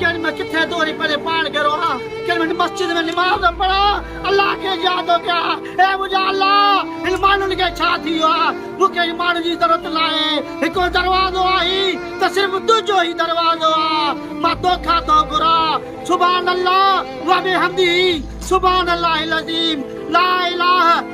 ڪن مان ڪٿي دوري پري پاڻ گرو آ ڪن مان مسجد ۾ نماز پڙا الله کي جيادو ڪيا اي منجا الله هن ماڻهن کي ڇا ٿي ويو آ مون کي هن ماڻهن جي ضرورت ناهي هڪو دروازو آهي ته صرف تنهنجو هي دروازو آ مان توکان ٿو گهرا سبحان الله وبحمده سبحان الله العظيم لا اله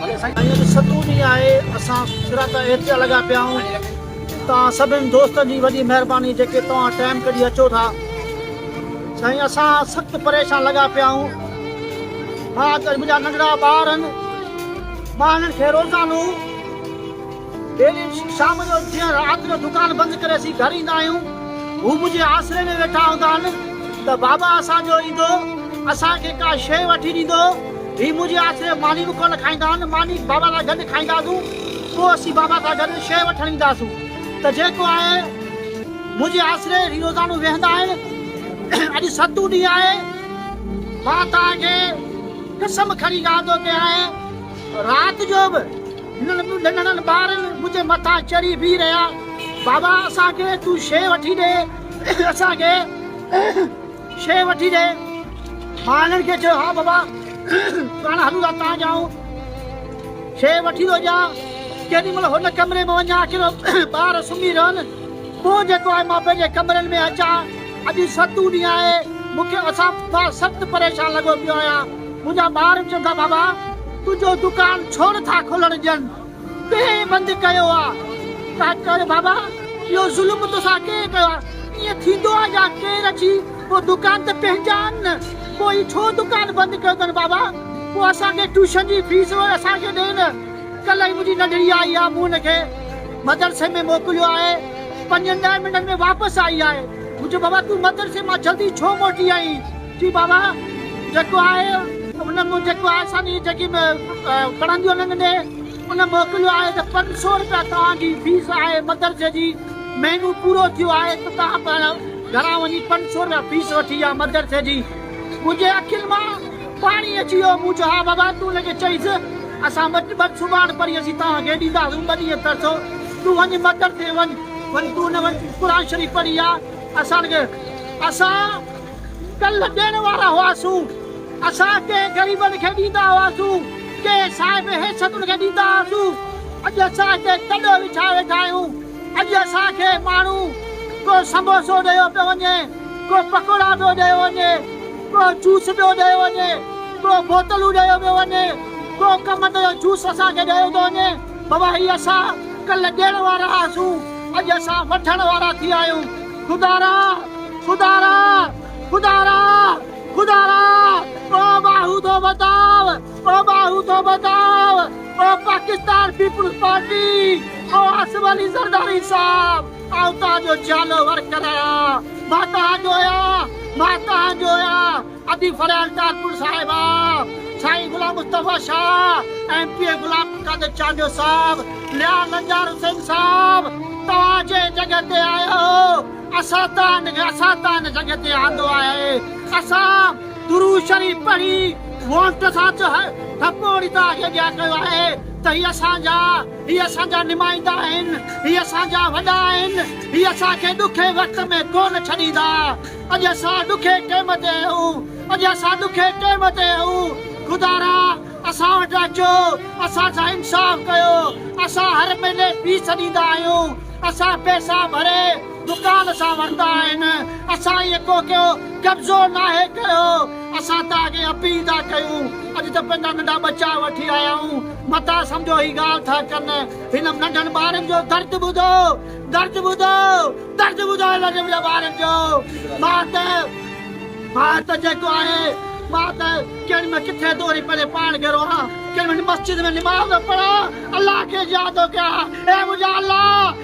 ڀلي سائين اڄ ستون ڏينهن آهي اسان فراق احتجاج لڳا پيا آهيون توهان سڀني دوستن جي وڏي مهرباني جيڪي توهان ٽائيم ڪڍي اچو ٿا سائين اسان سخت پريشان لڳا پيا آهيون مان اڄ منهنجا ننڍڙا ٻار آهن مان هنن کي روزانو ڊيلي شام جو جيئن رات جو دڪان بند ڪري اسين گهر ايندا آهيون هو منهنجي آسري ۾ ويٺا هوندا آهن ته بابا اسان جو ايندو اسان کي ڪا شيء وٺي ڏيندو هي منهنجي آسري ماني به ڪونه کائيندا آهن ماني بابا سان گڏ کائينداسون پوء اسين بابا سان گڏ شيء وٺڻ اينداسون ته جيڪو آهي منهنجي آسري هي روزانو ويهندا آهن اڄ ستون ڏينهن آهي مان توهان کي قسم کڻي ڳالهه ٿو ڪيان رات جو به ننڍڙن ٻارن منهنجي مٿان چڙهي بيهي رهيا، بابا اسان کي تون شيء وٺي ڏي، اسان کي شيء وٺي ڏي. مان هنن کي چيو، ها بابا پاڻ هلون ٿا تان جائون، شيء وٺي ٿو ڏيان. ڪيڏي مهل هن ڪمري ۾ وڃان ڪيڏو ٻار سمهي رهن، پوء جيڪو آهي مان پنهنجي ڪمرن ۾ اچان. اڄ ست اون ڏينهن آهي، مون کي اسان پڦا سخت پريشان لڳو پيو آهيان. منهنجا ٻار چون ٿا بابا تنهنجو دڪان ڇو نٿا کولڻ ڏين، ڪنهن بند ڪيو آ؟ ڪا چوي بابا اهو ظلم توسان ڪنهن ڪيو آ؟ ائين ٿيندو آ جا ڪير اچي پوء دڪان ته پنهنجا آهن نه، پوء هي ڇو دڪان بند ڪيو اٿن بابا؟ پوء اسان کي ٽيوشن جي فيس به اسان کي ڏي نه، ڪلهه ئي منهنجي ننڍڙي آئي آ مون هن کي مدرسي ۾ موڪليو آهي. پنجن ڏهن منٽن ۾ واپس آئي آهي. مون چيو بابا تون مدرسي مان جلدي ڇو موٽي آئين؟ چي بابا جيڪو آهي ان مون جيڪو آهي ساني جيڪي پڙهنديون ننگ ڏي ان موڪليو آهي ته پنج سؤ روپيا توهان جي فيس آهي مدرسي جي مهينو پورو ٿيو آهي ته توهان پاڻ گهران وڃي پنج سؤ روپيا فيس وٺي آ مدرسي جي منهنجي اکين مان پاڻي اچي ويو، مون چيو، ها بابا، تون هن کي چئيس، اسان ٻه ٻن سڀاڻ پرين اسين توهان کي ڏينداسون ٻه ڏينهن ترسو، تون وڃ مدر تي وڃ، وڃ تون نه وڃ، قرآن شريف پڙهي آ، اسان کي اسان ڪلهه ڏيڻ وارا هئاسون، اسان ڪنهن غريبن کي ڏيندا هئاسون، ڪنهن صاحب حيثيتن کي ڏيندا هئاسون، اڄ اسان هتي تڏو وڇائي ويٺا آهيون، اڄ اسان کي ماڻهو ڪو سموسو ڏيو پيو وڃي. ڪو پڪوڙا پيو ڏيو وڃي، ڪو جوس پيو ڏيو وڃي، ڪو بوتلون ڏيو پيو وڃي، ڪو ڪمت جو جوس اسان کي ڏيو ٿو وڃي. بابا هي اسان ڪلهه ڏيڻ وارا هئاسون، اڄ اسان وٺڻ وارا ٿي ويا آهيون. خدا را! خدا را! خدا را! خدا را! او ٻاهون ٿو ٻڌاء، او ٻاهون ٿو ٻڌاء، او پاڪستان پيپلز پارٽي، او آصف علي زرداري صاحب! آئون توهان جو جيالو ور ڪرايا، مان توهان جو آهيان، مان توهان جو آهيان، ادي ڦريال ٽالپر صاحب آ، سائين Ghulam Mustafa Shah, M P A Ghulam Qadir Chandio صاحب، ليا لنجار حسين صاحب، توهان جنهن جڳهه تي آهيو، اسان توهان اسان توهان ان جڳهه تي آندو آهي، اسان درود شريف پڙهي وونٽ سان ٿپو هڻي توهان کي اڳيان ڪيو آهي ته هي اسان جا هي اسان جا نمائندا آهن، هي اسان جا وڏا آهن، هي اسان کي ڏکئي وقت ۾ ڪونه ڇڏيندا. اڄ اسان ڏکئي ٽيم تي آهيون، اڄ اسان ڏکئي ٽيم تي آهيون. خدا را! اسان وٽ اچو، اسان سان انصاف ڪيو. اسان هر مهيني فيس ڏيندا آهيون، اسان پئسا ڀري. دڪان سان ورتا آهن اسان ايئن ڪو ڪيو قبضو ناهي ڪيو اسان ته اڳي اپيل ٿا ڪيون اڄ ته پنهنجا ننڍا ٻچا وٺي آيا آهيون متان سمجهو هي ڳالهه ٿا ڪن هن ننڍن ٻارن جو درد ٻڌو درد ٻڌو درد ٻڌو ننڍن ٻارن جو مان ته مان ته جيڪو آهي مان ته ڪن ۾ ڪٿي ٿو وڃي پنهنجي پاڻ گهرو آهان ڪن ۾ مسجد ۾ نماز پڙهان الله کي ياد ٿو ڪيان اي منهنجا الله